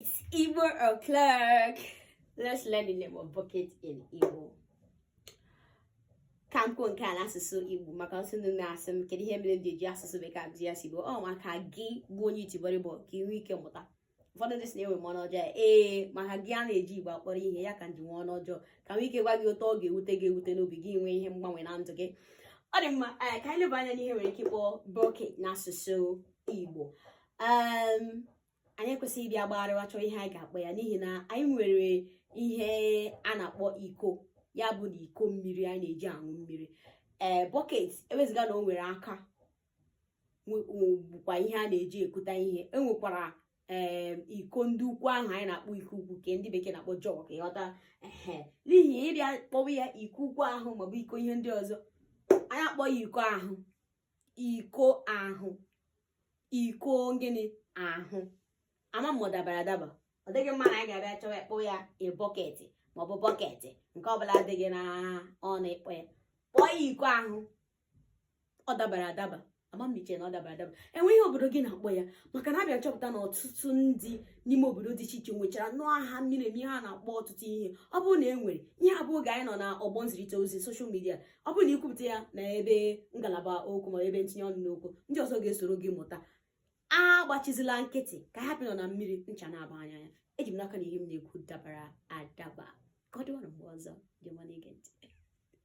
It's Igbo o'clock. Let's learn the name of bucket in Igbo. ka m kwuo nke a n'asụsụ Igbo maka ọtụtụ ndị na-asị m kedu ihe mere m ji eji asụsụ bekee akụzi asụsụ Igbo ọ maka gị bụ onye itibọrịbọ ka ị nwee ike mụta ụfọdụ ndị sị na enwe m ọnụ ọjọọ ee maka gị a na-ejighị Igbo akpọrọ ihe ya ka m ji nwee ọnụ ọjọọ ka m nwee ike gwa gị otu ọ ga-ewute gị ewute n'obi gị nwee ihe mgbanwe na ndụ gị ọ dị mma eh, ka anyị leba anya n'ihe e nwere ike ịkpọ bucket n'asụsụ Igbo anyị ekwesịghị ịbịa gbagharịwa chọọ ihe anyị ga-akpọ ya n'ihi na anyị nwere ihe a na-akpọ iko ya bụ na iko mmiri anyị na-eji aṅụ mmiri ee eh, bucket ewezụga na o nwere aka bụkwa ihe a na-eji ekuta ihe e nwekwara ee eh, iko ndị ukwu ahụ anyị na-akpọ iko ukwu nke ndị bekee na-akpọ jug ị ghọta ehe n'ihi ịbịa kpọwa ya iko ukwu ahụ maọbụ iko ihe ndị ọzọ anyị akpọọ ya iko ahụ iko ahụ iko gịnị ahụ ama m ọ dabara adaba ọ dịghị mma na anyị ga-abịa chọwa ịkpọ ya e bọketị maọbụ bọketị nke ọbụla adịghị na ọnụ ịkpọ ya kpọọ ya iko ahụ ọ dabara adaba ama m iche na ọ dabara adaba e nwee ihe obodo gị na-akpọ ya maka na abịa m chọpụta na ọtụtụ ndị n'ime obodo dị iche iche nwechara nnọọ aha miri emi ha na-akpọ ọtụtụ ihe ọ bụrụ na e nwere ihe ọ bụ oge anyị nọ na ọgbọ nzirịta ozi social media ọ bụrụ na i kwupụta ya na ebe ngalaba okwu ma ebe ntinye ọnụ n'okwu ndị ọzọ ga-esoro gị mụta agbachizila nkịtị ka a hapụ ịnọ na mmiri ncha na-aba anyị anya eji m n'aka na ihe m na-ekwu dabara adaba ka ọ dịwara mgbe ọzọ ndị ọma na-ege ntị